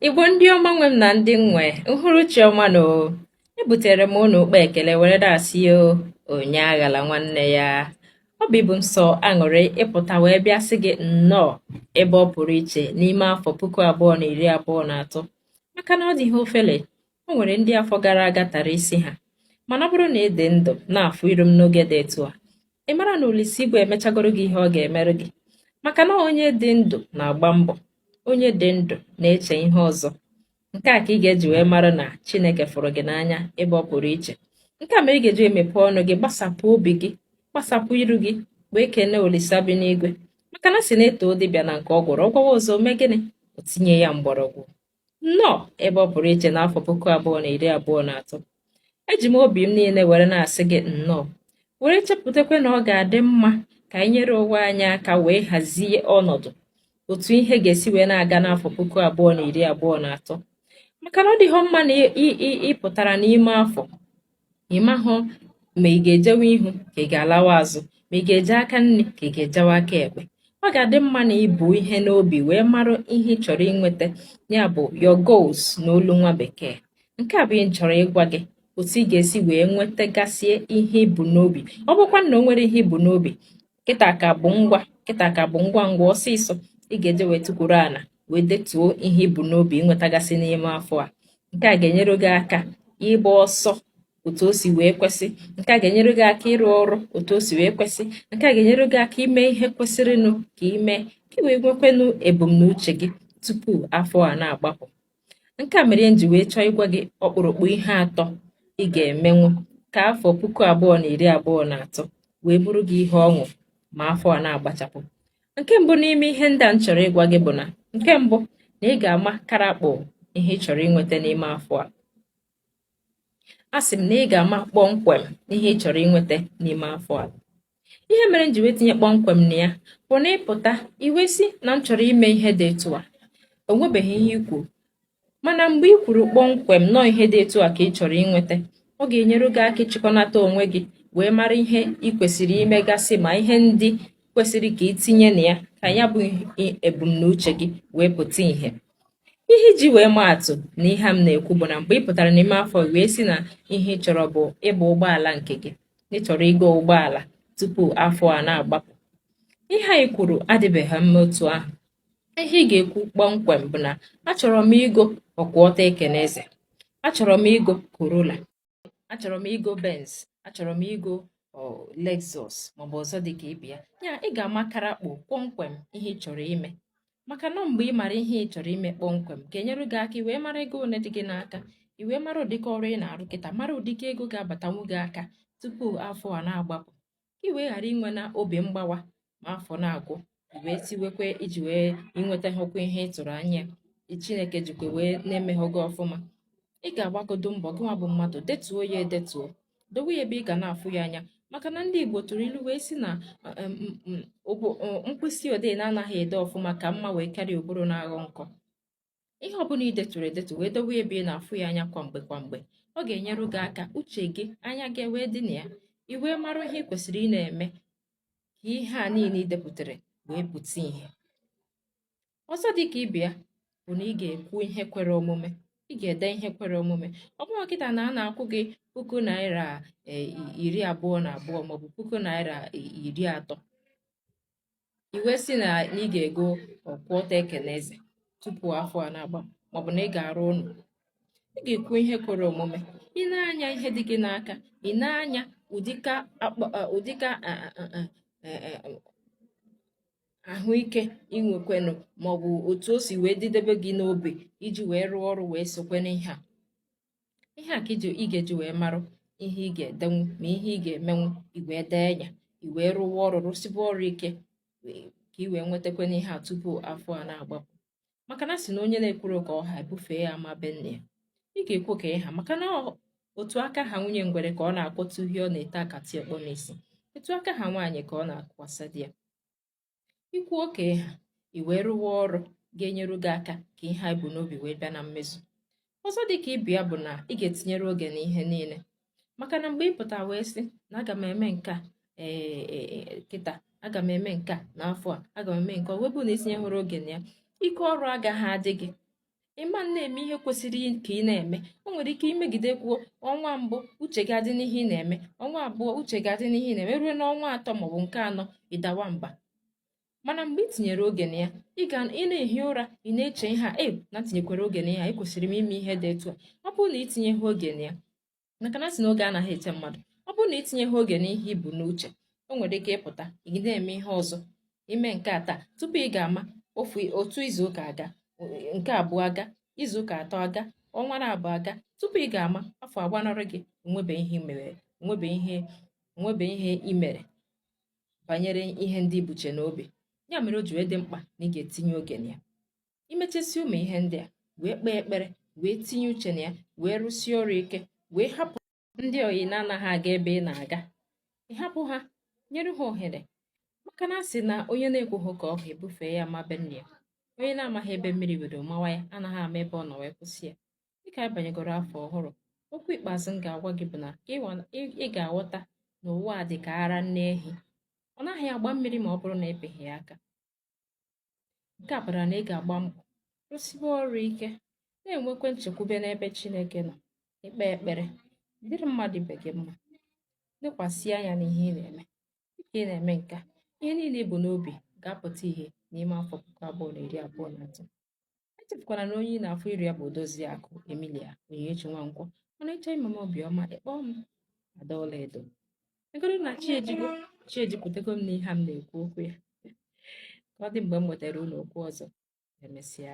igbo ndị ọma nwe m na ndị m nwe uhuruchi ọma nụ o ebutere m unu ụkpa ekele were na-asị ya onye aghala nwanne ya obi bụ m sọ aṅụrị ịpụta wee bịa sị gị nnọọ ebe ọ pụrụ iche n'ime afọ puku abụọ na iri abụọ na atọ maka na ọ dịghị ofele o nwere ndị afọ gara aga tara isi ha mana ọ bụrụ na ị dị ndụ na-afụ iru m n'oge dị etu a ị mara na Olise Igwe emechagoro gị ihe ọ ga-emerụ gị maka na onye dị ndụ na-agba mbọ onye dị ndụ na-eche ihe ọzọ nke a ka ị ga-eji wee mara na Chineke fụrụ gị n'anya ebe ọ pụrụ iche nke a mere ị ga-eji emepe ọnụ gị gbasapụ obi gị gbasapụ iru gị wee kelee Olise bi n'igwe maka na a sị na e too dibịa na nke ọ gwọrọ ọ gwọwa ọzọ mee gịnị o tinye ya mgbọrọgwụ nnọọ ebe ọ pụrụ iche n'afọ puku abụọ na iri abụọ na atọ eji m obi m niile were na-asị gị nnọọ were chepụtakwa na ọ ga-adị mma ka anyị nyere onwe anyị aka wee hazie ọnọdụ otu ihe ga-esi wee na-aga n'afọ puku abụọ na iri abụọ na atọ maka na ọ dịghị mma na ị pụtara n'ime afọ ị mahụ ma ị ga-ejewe ihu ka ị ga-alawa azụ ma ị ga-eje aka nri ka ị ga-ejewe aka ekpe ọ ga-adị mma na i bu ihe n'obi wee mara ihe ị chọrọ inweta ya bụ your goals n'olu nwa bekee nke a bụ ihe m chọrọ ịgwa gị otu ị ga-esi wee nwetagasie ihe i bu n'obi ọ bụkwa na o nwere ihe i bu n'obi kịta ka bụ ngwa kịta ka bụ ngwa ngwa ọsịsọ ị ga-eji wee tukwuru ala wee detuo ihe i bu n'obi inwetagasị n'ime afọ a nke a ga-enyere gị aka ịgba ọsọ otu o si wee kwesị nke a ga-enyere gị aka ịrụ ọrụ otu o si wee kwesị nke a ga-enyere gị aka ime ihe kwesịrịnụ ka ị mee ka ị wee nwekwenụ ebumnuche gị tupu afọ a na-agbapụ Nke a mere m ji wee chọọ ịgwa gị ọkpụrụkpụ ihe atọ ị ga-emenwu ka afọ puku abụọ na iri abụọ na atọ wee bụrụ gị ihe ọṅụ ma afọ a na-agbachapụ. Nke mbụ n'ime ihe ndị a m chọrọ ịgwa gị bụ na nke mbụ na ị ga-ama karakpọ ihe ị chọrọ inweta n'ime afọ a. Asị m na ị ga-ama kpọmkwem ihe ị chọrọ inweta n'ime afọ a. ihe mere m ji wee tinye kpọmkwem na ya bụ na ị pụta ị wee sị na m chọrọ ime ihe dị etu a o nwebeghị ihe i kwuru mana mgbe ị kwuru kpọmkwem na ọ ihe dị etu a ka ị chọrọ inweta ọ ga-enyere gị aka ịchịkọnata onwe gị wee mara ihe ị kwesịrị imegasị ma ihe ndị kwesịrị ka ị tinye na ya ka ya bụ ebumnuche gị wee pụta ìhè ihe iji wee maa atụ na ihe a m na-ekwu bụ na mgbe ị pụtara n'ime afọ wee sị na ihe ị chọrọ bụ ịba ụgbọala nke gị ị chọrọ igo ụgbọala tupu afọ a na-agbapụ ihe anyị kwuru adịbeghị mma otu ahụ ihe ị ga-ekwu kpọmkwem bụ na achọrọ m igo ọkwụ ọtọ ekene eze achọrọ m igo corolla achọrọ m igo benz achọrọ m igo lexus maọbụ ọzọ dị ka ibe ya ya ị ga-amakara kpụ kpọmkwem ihe ị chọrọ ime maka na ọ mgbe ị mara ihe ị chọrọ ime kpọmkwem ga-enyere gị aka i wee mara ego ole dị gị n'aka i wee mara ụdịka ọrụ ị na-arụ kịta mara ụdịka ego ga-abatanwu gị aka tupu afọ a na-agbapụ ka ị wee ghara inwe na obi mgbawa ma afọ na-agwụ i wee sịwe kee i ji wee i nwetahụkwa ihe ị tụrụ anya chineke jikwa wee na-emeghị gị ọfụma ị ga-agbagodo mbọ gịnwa bụ mmadụ detuo ya edetuo dowe ya ebe ị ga na-afụ ya anya maka na ndị Igbo tụrụ ilu wee sị na mkpịsị odee na-anaghị ede ọfụma ka mma wee karịa ụbụrụ na-aghọ nkọ ihe ọbụla ị detụrụ edetu wee dowe ebe ị na-afụ ya anya kwa mgbe kwa mgbe ọ ga-enyere gị aka uche gị anya gị wee dị na ya i wee mara ihe ị kwesịrị ị na-eme ka ihe a niile ị depụtara wee pụta ihe ọzọ dị ka ibe ya bụ na ị ga-ekwu ihe kwere omume ị ga-ede ihe kwere omume ọ bụrụ kịta na a na-akwụ gị puku naira e, iri abụọ na abụọ maọbụ puku naira e, iri atọ i wee sị na ị ga-ego ọkwụ ọtọ ekene eze tupu afọ a na-agba maọbụ na ị ga-arụ ụlọ ị ga-ekwu ihe kwere omume ị nee anya ihe dị gị n'aka ị nee anya ụdịka e, ahụike i nwekwenụ maọbụ otu o si wee dịdebe gị n'obi iji wee rụọ ọrụ wee sokwa n'ihe a ihe a ka ị ga-eji wee marụ ihe ị ga-edenwu ma ihe ị ga-emenwu i wee dee ya i wee rụwa ọrụ rụsiba ọrụ ike ka ị wee nwetakwanụ ihe a tupu afọ a na-agbapụ maka na a sị na onye na-ekwuro ka ọ ha ebufee ya ama be nne ya ị ga-ekwu ka ị ha maka na otu aka ha nwunye ngwere ka ọ na-akwọta uhie ọ na-ete akati ọkpọ n'isi otu aka ha nwaanyị ka ọ na-atụkwasa di ya i kwuo ka ị ha i wee rụwa ọrụ ga-enyere gị aka ka ihe a i bu n'obi wee bịa na mmezu Ọzọ dị ka ibe ya bụ na ị ga-etinyere oge na ihe niile maka na mgbe ị pụta wee sị na aga m eme nke a ee e, e, e, kịta aga m eme nke a n'afọ a aga m eme nke ọ wee bụ na i tinyehụrụ oge na ya ike ọrụ agaghị adị gị ị ma na-eme ihe kwesịrị ka ị na-eme o nwere ike i megide kwuo ọnwa mbụ uche gị adị n'ihe ị na-eme ọnwa abụọ uche gị adị n'ihe ị na-eme ruo n'ọnwa atọ maọbụ nke anọ ị dawa mba mana mgbe ị tinyere oge na ya ị ga ị na-ehi ụra ị na-eche ihe a e na tinyekwara oge na ya ekwesịrị m ime ihe dị etu a ọ bụrụ na i tinyeha oge na ya maka na a sị na oge anaghị eche mmadụ ọ bụrụ na i tinyeha oge n'ihe i bu n'uche o nwere ike ị pụta ị na-eme ihe ọzọ i mee nke a taa tupu ị ga-ama ofu otu izu ụka aga nke abụọ aga izu ụka atọ aga ọnwa na abụọ aga tupu ị ga-ama afọ agbanarị gị o nwebe ihe mere o nwebe ihe o nwebe ihe i mere banyere ihe ndị i buche n'obi ya mere o ji wee dị mkpa na ị ga-etinye oge na ya imechasị ụmụ ihe ndị a wee kpee ekpere wee tinye uche na ya wee rụsie ọrụ ike wee hapụ ndị oyi na-anaghị aga ebe ị na-aga ịhapụ ha nyere ha ohere maka na a sị na onye na-ekwughị ka ọ ha e bufee ya ama be nne ya onye na-amaghị ebe mmiri bido mawa ya anaghị ama ebe ọ nọ wee kwụsị ya dịka anyị banyegoro afọ ọhụrụ okwu ikpeazụ m ga-agwa gị bụ na ị ga-aghọta na ụwa a dị ka ara nne ehi ọ naghị agba mmiri ma ọ bụrụ na a pịghị ya aka nke a pụtara na ị ga-agba mbọ rụsiwe ọrụ ike na-enwekwa nchekwube n'ebe Chineke nọ kpee ekpere dịrị mmadụ ibe gị mma lekwasị anya n'ihe ị na-eme dịka ị na-eme nke a ihe niile i bu n'obi ga-apụta ihe n'ime afọ puku abụọ na iri abụọ na atọ echefukwala na onye ị na-afụ iru ya bụ Odoziakụ Emilia Onyinyechi Nwankwo mana ị chọọ ime m obi ọma ị kpọọ m Ada Ọlaedo egoro na chi ejigo chi ejipụtago m n'ihe a m na-ekwu okwu ya ka ọ dị mgbe m nwetara ụlọ okwu ọzọ emesịa